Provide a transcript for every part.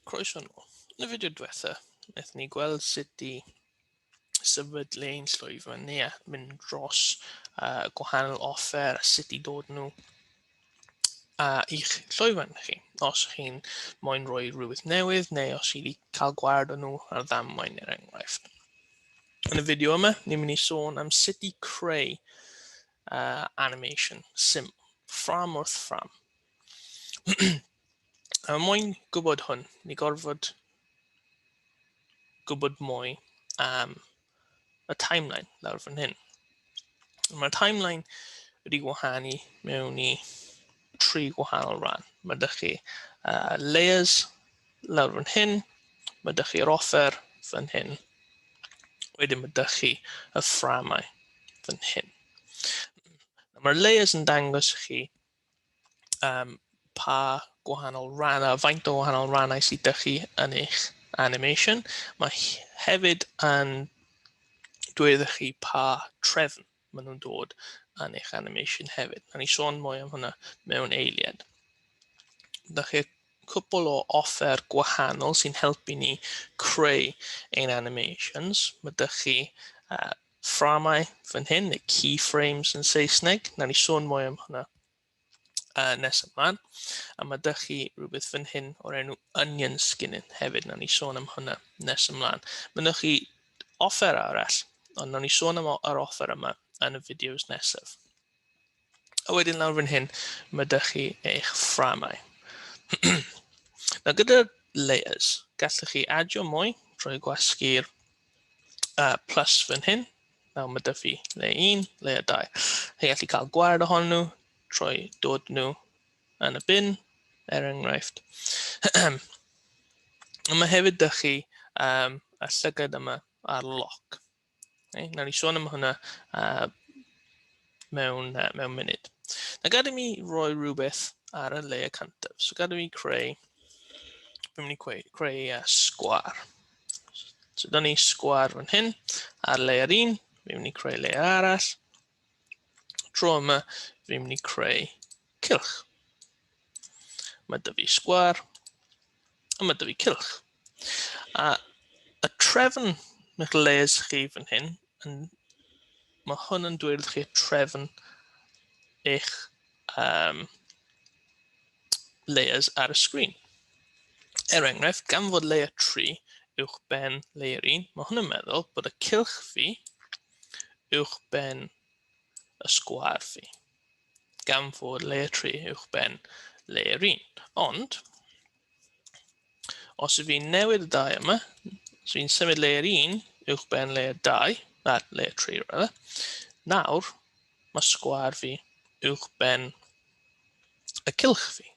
Croeso nhw. Yn y fideo diwetha, wnaethon ni gweld sut i sefydlu ein llwyfan fan ni a mynd dros uh, gwahanol offer a sut i dod nhw a i'ch llwyfan chi. Os chi'n moyn rhoi rhywbeth newydd neu os chi wedi cael gwared o nhw ar ddamwain er enghraifft. Yn y fideo yma, ni'n mynd i sôn am sut i creu uh, animation sim, ffram wrth ffram. A mwyn gwybod hwn, ni gorfod gwybod mwy am y timeline lawr fan hyn. Mae'r timeline wedi gwahanu mewn i tri gwahanol rhan. Mae dych chi uh, layers lawr fan hyn, mae dych chi'r offer fan hyn, wedyn mae dych chi y fframau fan hyn. Mae'r layers yn dangos chi um, pa gwahanol rannau, faint o wahanol rannau sydd ydych chi yn eich animation. Mae hefyd yn dweud chi pa trefn maen nhw'n dod yn eich animation hefyd. Na ni sôn mwy am hwnna mewn eiliad. Da chi cwpl o offer gwahanol sy'n helpu ni creu ein animations. Mae dych chi uh, fframau fan hyn, neu keyframes yn Saesneg. Na ni sôn mwy am hwnna uh, nes ymlaen. A mae dych chi rhywbeth fan hyn o'r enw onion skinning hefyd. Na ni sôn am hwnna nes ymlaen. Mae ddych chi offer arall, ond na ni sôn am yr offer yma yn y fideos nesaf. A wedyn lawr fan hyn, mae dych chi eich fframau. Nawr gyda layers, gallwch chi adio mwy drwy gwasgu'r uh, plus fan hyn. Nawr mae dych chi layer 1, layer 2. Chi gallu cael gwared ohonyn nhw trwy dod nhw yn y bin, er enghraifft. mae hefyd dych chi um, y llygad yma ar lock. Okay, nawr ni sôn am hwnna uh, mewn, uh, mewn munud. Na gad i mi roi rhywbeth ar y le y cantaf. So gad i mi creu, fi'n mynd i creu, creu uh, sgwar. So da ni sgwar fan hyn, ar le yr un, fi'n mynd i creu le arall, Tro yma, rydym ni'n creu cylch. Mae dy fi sgwar, a mae dy fi cylch. A y trefn eich les chi fan hyn, yn, mae hwn yn dweud chi trefn eich um, layers ar y sgrin. Er enghraifft, gan fod layer 3 uwch ben layer 1, mae hwn yn meddwl bod y cylch fi, uwchben y sgwâr fi, gan fod le 3 uwchben le 1. Ond, os ydw i'n newid y dau yma, os fi'n symud le 1 uwchben le 2, na, le 3 rydda, nawr mae sgwâr fi uwchben y cylch fi.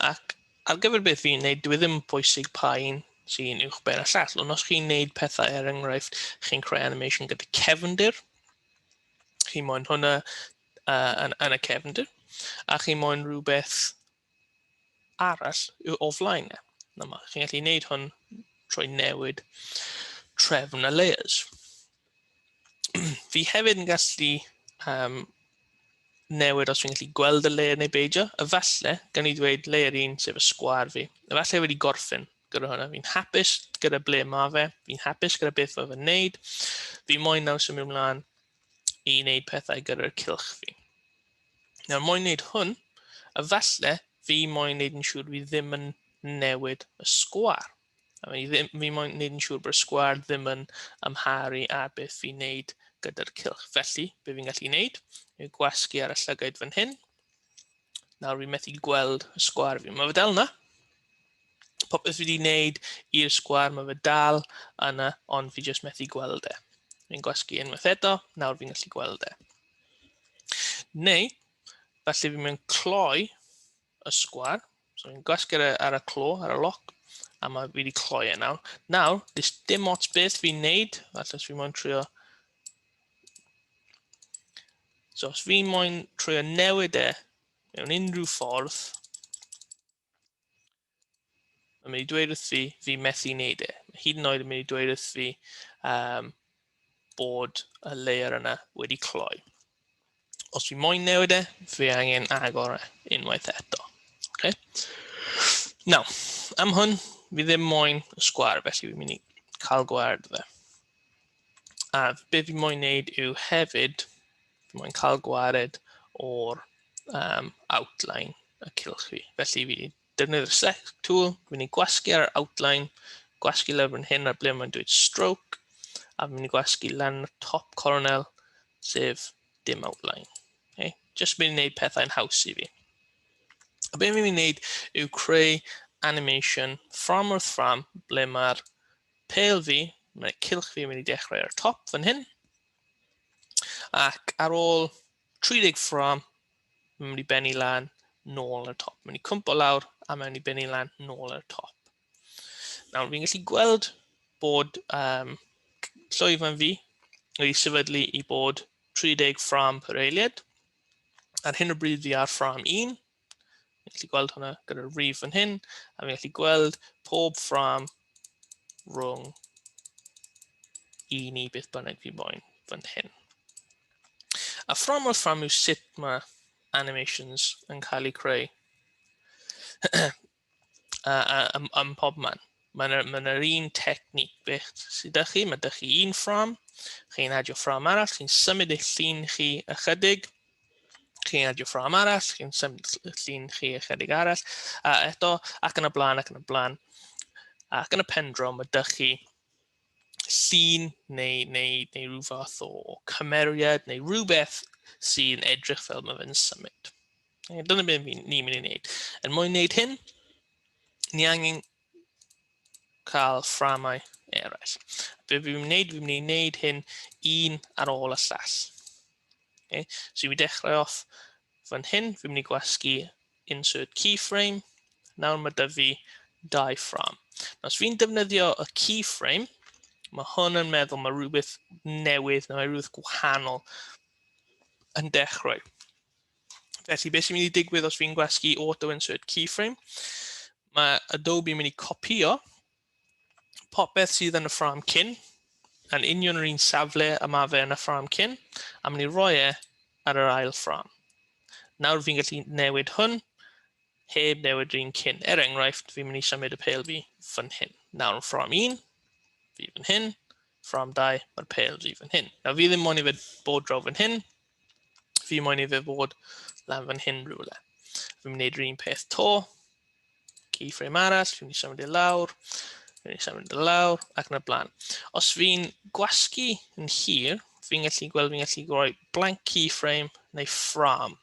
Ac ar gyfer beth fi'n neud, dwi ddim yn pwysig pa un sy'n uwch ben y llall, ond os chi'n neud pethau er enghraifft, chi'n creu animation gyda cefndir, chi moyn hwnna uh, yn, yn y cefndir, a chi moyn rhywbeth arall o flaen e. Chi'n gallu neud hwn trwy newid trefn y layers. fi hefyd yn gallu um, newid os fi'n gallu gweld y layer neu beidio. Efallai, gan i ddweud layer 1 sef y sgwar fi. Efallai wedi gorffen gyda hwnna. Fi'n hapus gyda ble mae fe, fi'n hapus gyda beth mae fe'n neud. Fi moyn nawr symud ymlaen i wneud pethau gyda'r cilch fi. Nawr, moyn wneud hwn, efallai fi moyn wneud yn siŵr fi ddim yn newid y sgwar. I mean, ddim, fi moyn wneud yn siŵr bod y sgwar ddim yn amharu ar beth fi'n wneud gyda'r cilch. Felly, be fi'n gallu wneud yw gwasgu ar y llygaid fan hyn. Nawr fi'n methu gweld y sgwar fi. Mae fe dal yna. Popeth fi wedi wneud i'r sgwar, mae fe dal yna, ond fi jyst methu gweld e. Fi'n gwasgu unwaith eto, nawr fi'n gallu gweld e. Neu, falle fi'n mynd cloi y sgwar. So ni'n gwasgu ar y, ar y clo, ar y loc, a mae fi wedi cloi e nawr. Nawr, dys dim ots beth fi'n neud, falle os fi moyn trio... So, os fi moyn trio newid e mewn unrhyw ffordd, mae'n mynd i dweud wrth fi, fi methu wneud e. Mae hyd yn oed yn mynd i dweud wrth fi, um, bod y layer yna wedi cloi. Os fi moyn newid e, fi angen agor e unwaith eto. Okay? Now, am hwn, fi ddim moyn y sgwar, felly fi'n mynd i cael gward fe. A be fi moyn wneud yw hefyd, fi moyn cael gwared o'r um, outline y cylch fi. Felly fi Defnyddio'r select tool, fi'n ei gwasgu ar yr outline, gwasgu lawr fan hyn ar ble mae'n dweud stroke, a fi'n ei gwasgu lan y top coronel, sef dim outline. Okay? Just mynd i wneud pethau'n haws i fi. A beth fi'n mynd i wneud yw creu animation ffram wrth ffram ble mae'r pel fi, mae'r cilch fi yn mynd i dechrau ar y top fan hyn, ac ar ôl 30 ffrâm, mae'n mynd i bennu lan, nôl ar y top. Mae'n mynd i cwmpo lawr a mae'n mynd i bennu lan, nôl ar y top. Nawr, fi'n gallu gweld bod um, llwyfan fi wedi sefydlu i bod 30 ffrâm per eiliad. Ar hyn o bryd fi ar ffrâm 1, Fi'n gallu gweld hwnna gyda'r rif yn hyn, a fi'n gallu gweld pob ffram rhwng i ni beth bynnag fi moyn fan hyn. A ffram o'r ffram yw sut mae animations yn cael eu creu. a, a, a, a pob man. Mae'n yr, ma yr un technic beth sydd â chi. Mae ydych chi un ffram, chi'n adio ffram arall, chi'n symud eich llun chi ychydig, chi'n adio ffram arall, chi'n symud eich llun chi ychydig arall, a eto, ac yn y blaen, ac yn y blaen. Ac yn y pendro, mae ydych chi llun neu, neu, neu rhyw fath o cymeriad neu rhywbeth sy'n edrych fel mae fe'n symud. E, dyna beth ni'n ni mynd i wneud. Er mwyn wneud hyn, ni angen cael fframau eraill. Be fi'n mynd i wneud, fi'n mynd i wneud hyn un ar ôl y llall. Okay. So i dechrau off fan hyn, fi'n mynd i gwasgu insert keyframe. Nawr mae dyfu fi dau ffram. Os fi'n defnyddio y keyframe, mae hwn yn meddwl mae rhywbeth newydd neu mae rhywbeth gwahanol yn dechrau. Felly, beth sy'n mynd i digwydd os fi'n gwasgu auto insert keyframe? Mae Adobe yn mynd i copio popeth sydd yn y ffrâm cyn, yn union yr un safle y mae fe yn y ffrâm cyn, a mynd i roi e ar yr ail ffrâm. Nawr fi'n gallu newid hwn, heb newid yr un cyn. Er enghraifft, fi'n mynd i symud y pel fi fan hyn. Nawr yn ffrâm 1, fi fan hyn, ffrâm 2, mae'r pel fi fan hyn. Nawr fi ddim moyn i fe bod draw fan hyn, Fi moyn i fe fod lan fan hyn rhywle. Fi'n mynd yr un peth to. Keyframe arall, fi'n eisiau mynd i lawr. Fi'n eisiau mynd i lawr ac yn y blaen. Os fi'n gwasgu yn hir, fi'n gallu gweld fi'n gallu rhoi blank keyframe neu ffram.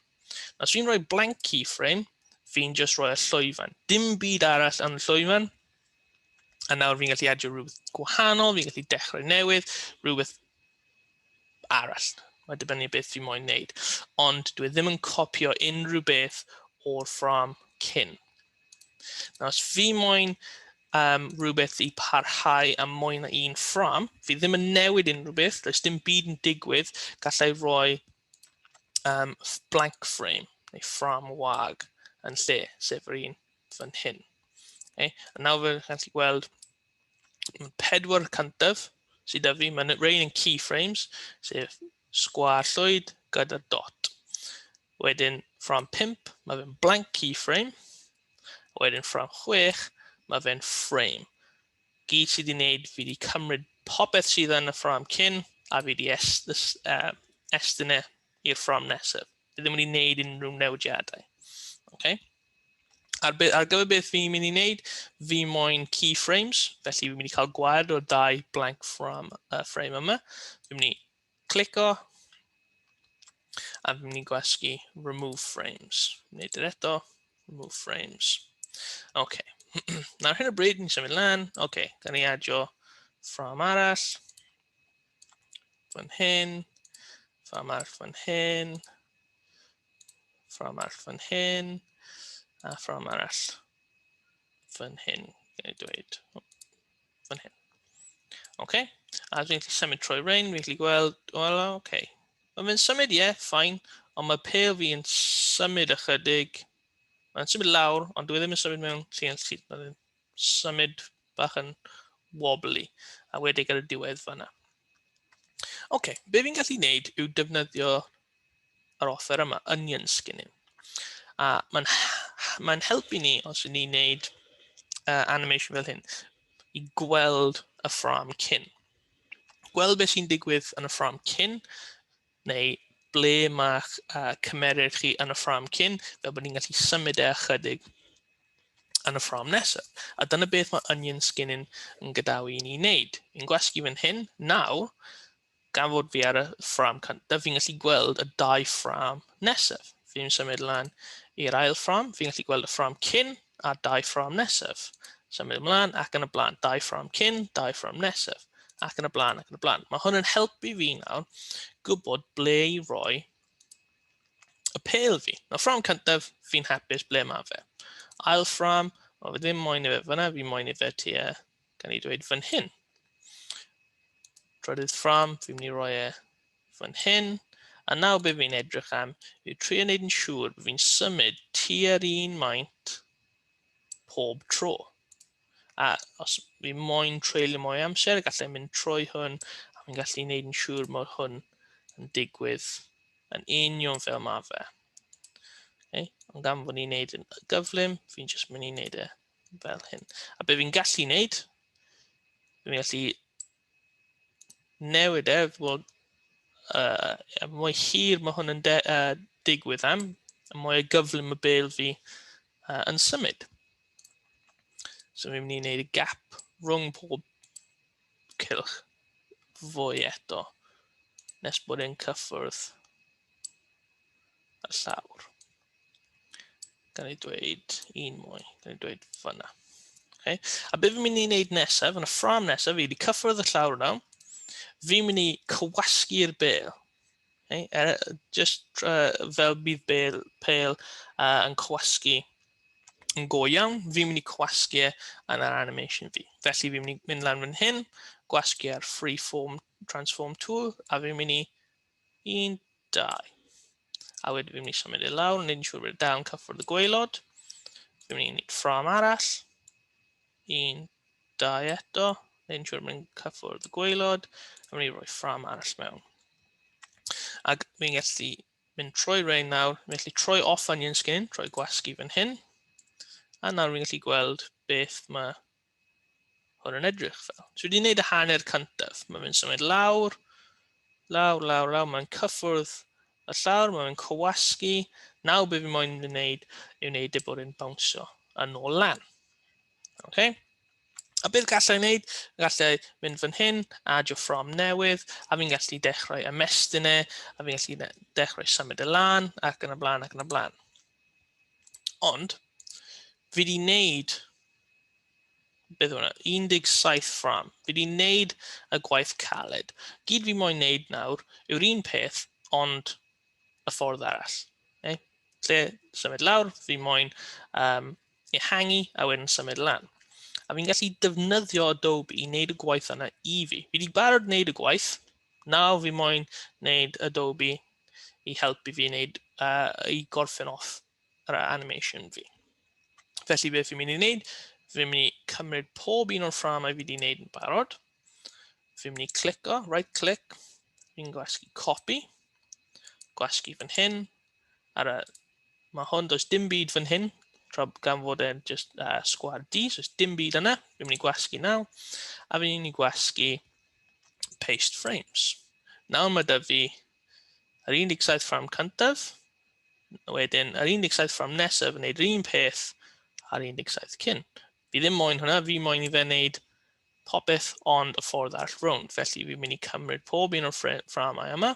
Os fi'n rhoi blank keyframe, fi'n just rhoi y llwyfan. Dim byd arall yn y llwyfan, A nawr fi'n gallu adio rhywbeth gwahanol, fi'n gallu dechrau newydd, rhywbeth arall. Mae dibynnu beth fi moyn wneud. Ond dwi e ddim yn copio unrhyw beth o'r ffram cyn. Nawr, os fi moyn um, rhywbeth i parhau am mwy na un ffram, fi ddim yn newid unrhyw beth, does dim byd yn digwydd, gallai roi um, blank frame neu ffram wag yn lle, sef yr un fan hyn. Okay? A nawr fe chi'n gallu gweld pedwar cyntaf sydd â fi, mae'n rhain yn keyframes, sef sgwar llwyd gyda dot. Wedyn ffram 5, mae fe'n blank keyframe. Wedyn ffram 6, mae fe'n frame. gyd sydd i wneud, fi wedi cymryd popeth sydd yn y ffram cyn a fi wedi est, uh, estyn e i'r ffram nesaf. Fi ddim wedi wneud unrhyw newidiadau. Okay? Ar, be, ar gyfer beth fi'n mynd i wneud, fi moyn keyframes, felly fi'n mynd i cael gwaed o dau blank ffram, uh, frame yma. Fi'n mynd i Clico. A fi'n mynd i gwasgu remove frames. Wneud yr eto. Remove frames. OK. Nawr hyn o bryd, ni'n symud lan. OK, gan ni adio ffram arall. Fan hyn. Ffram arall fan hyn. Ffram arall fan hyn. A ffram arall fan hyn. Gan i dweud. fan hyn. Oce, okay. a dwi'n gallu symud trwy rein, fi'n gallu gweld, wel, oce. Okay. Mae fe'n symud, ie, yeah, ffain, ond mae pel fi yn symud ychydig. Mae'n symud lawr, ond dwi e ddim yn symud mewn lle yn syth. Mae'n symud bach yn wobbly, a wedi ar y diwedd fanna. Oce, okay. be fi'n gallu gwneud yw defnyddio yr offer yma, onion skin yw. A mae'n mae helpu ni os ydyn ni'n neud uh, animation fel hyn i gweld y ffram cyn. Gweld beth sy'n digwydd yn y ffram cyn, neu ble mae uh, cymeryd chi yn y ffram cyn, fel bod ni'n gallu symud e ychydig yn y ffram nesaf. A dyna beth mae onion skin yn, yn gadawu i ni wneud. Yn gwasgu fan hyn, nawr, Gan fod fi ar y ffram cyntaf, fi'n gallu gweld y dau ffram nesaf. Fi'n symud lan i'r ail ffram, fi'n gallu gweld y ffram cyn a dau ffram nesaf. Symud ymlaen ac yn y blaen, dau ffram cyn, dau ffram nesaf, ac yn y blaen ac yn y blaen. Mae hwn yn helpu fi nawr gwybod ble i roi y pel fi. Nawr ffram cyntaf, fi'n hapus ble mae fe. Ail ffram, o, fe ddim moyn i fe fyna, fi moyn i fe tua gan ei dweud fan hyn. Trydydd ffram, fi'n mynd i roi e fan hyn. A nawr be fi'n edrych am yw trio wneud yn siŵr bod fi'n symud tua'r un maint pob tro. A os fi moyn treulio mwy amser, gallai mynd trwy hwn a fi'n gallu wneud yn siŵr mod hwn yn digwydd yn union fel mae fe. Okay? Ond gan fod ni'n wneud yn gyflym, fi'n jyst mynd i wneud e fel hyn. A be fi'n gallu wneud, fi'n gallu newid e, fod uh, mwy hir mae hwn yn de, uh, digwydd am, a mwy o gyflym y bel fi uh, yn symud. So fi'n mynd i wneud y gap rhwng pob cylch fwy eto nes bod e'n cyffwrdd y llawr. Gan ei dweud un mwy. Gan ei dweud fyna. Okay. A beth fi'n mynd i wneud nesaf, yn y ffram nesaf, fi wedi cyffrodd y llawr yna. Fi'n mynd i cywasgu'r bel. Okay. Er, just uh, fel bydd bel, pel uh, yn cywasgu yn go iawn, fi'n mynd i cywasgu e yn yr animation fi. Felly fi'n mynd i mynd lan fan hyn, gwasgu ar freeform transform tool, a fi'n mynd i 1, 2. A wedyn fi'n mynd i symud i lawr, nid yn siŵr bod dal yn cyffwrdd y gweilod. Fi'n mynd i wneud ffram arall. 1, 2 eto, nid yn siŵr bod yn cyffwrdd y gweilod. A mynd i roi ffram arall mewn. Ac fi'n gallu mynd trwy rein nawr, fi'n gallu troi off onion skin, troi gwasgu fan hyn. A nawr fi'n gallu gweld beth mae Hwn yn edrych fel. So wedi gwneud y hanner cyntaf. Mae'n mynd symud lawr, lawr, lawr, lawr. Mae'n cyffwrdd y llawr, mae'n mynd cywasgu. Nawr be fi moyn yn wneud yw wneud y bod yn bawnsio yn ôl lan. Okay? A beth gallai wneud? Gallai mynd fan hyn, adio ffrom newydd, a fi'n gallu dechrau ymestyn e, a fi'n gallu dechrau symud y e lan, ac yn y blaen, ac yn y blaen. Ond, fi wedi wneud beth yw hwnna, 17 ffram. Fi wedi wneud y gwaith caled. Gyd fi moyn wneud nawr yw'r un peth, ond y ffordd arall. Okay? Lle symud lawr, fi moyn um, ehangu a wedyn symud lan. A fi'n gallu defnyddio Adobe i wneud y gwaith yna i fi. Fi wedi barod wneud y gwaith, nawr fi moyn wneud Adobe i helpu fi wneud, uh, i gorffen off yr animation fi. Felly beth fi'n mynd i wneud, fi'n mynd i cymryd pob un o'r fframau fi wedi wneud yn barod. Fi'n mynd i clico, right click, fi'n gwasgu copy, gwasgu fan hyn, ar y, mae hwn, does dim byd fan hyn, tra gan fod e'n just uh, sgwad D, so does dim byd yna, fi'n mynd i gwasgu naw, a fi'n mynd i gwasgu paste frames. Nawr mae dyfu Yr 17 ffrâm cyntaf, wedyn yr 17 ffrâm nesaf yn gwneud yr un peth a'r 17 cyn. Fi ddim moyn hwnna, fi moyn i fe wneud popeth ond y ffordd all rownd. Felly fi'n mynd i cymryd pob un o'r fframau yma.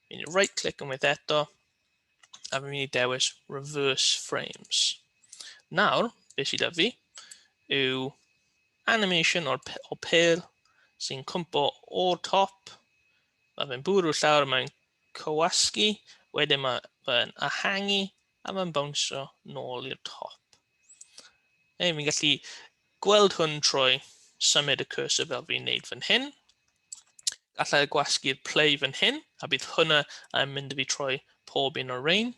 Fi'n mynd i right click unwaith eto. A fi'n mynd i dewis reverse frames. Nawr, beth sydd â fi yw animation o'r, o pel sy'n cwmpo o'r top Mae fe'n bwrw llawr, mae'n cywasgu, wedyn mae fe'n ahangu a mae'n bownsio nôl i'r top. Ei, fi'n gallu gweld hwn trwy symud y cursor fel fi'n neud fan hyn. Gallai gwasgu'r play fan hyn, a bydd hwnna yn mynd i fi trwy pob un o'r rein,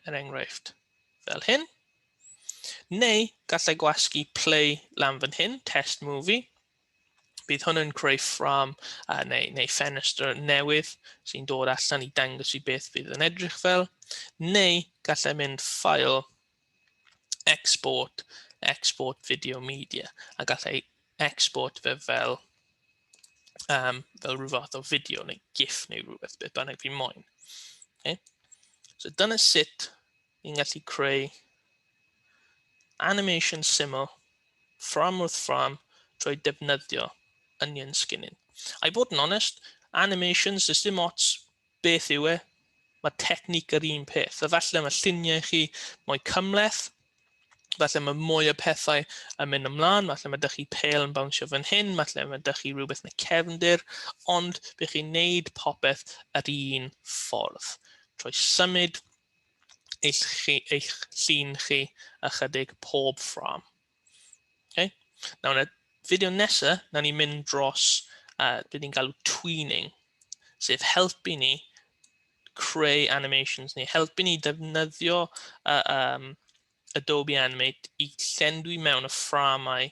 er enghraifft fel hyn. Neu gallai gwasgu play lan fan hyn, test movie, Bydd hwn yn creu ffram uh, neu, neu ffenestr newydd sy'n dod allan i dangos i beth bydd yn edrych fel, neu gallai mynd ffail export, export video media, a gallai export fe fel, um, fel rhyw fath o fideo neu gif neu rhywbeth, beth bynnag fi moyn. Okay? So dyna sut Ni'n gallu creu animation syml ffrâm wrth ffrâm drwy defnyddio onion skinning. I bod yn onest, animations, does dim ots beth yw e, mae technic yr un peth. Efallai mae lluniau chi mwy cymleth, falle mae mwy o pethau yn mynd ymlaen, falle mae dych chi pel yn bawnsio fan hyn, falle mae dych chi rhywbeth yn y cefndir, ond bych chi'n neud popeth yr un ffordd. Trwy symud eich, chi, eich llun chi ychydig pob ffram. Okay? Nawr, yn y fideo nesaf, nawr ni'n mynd dros uh, beth ni'n galw tweening, sef helpu ni creu animations ni, helpu ni defnyddio uh, um, Adobe Animate i llenwi mewn y fframau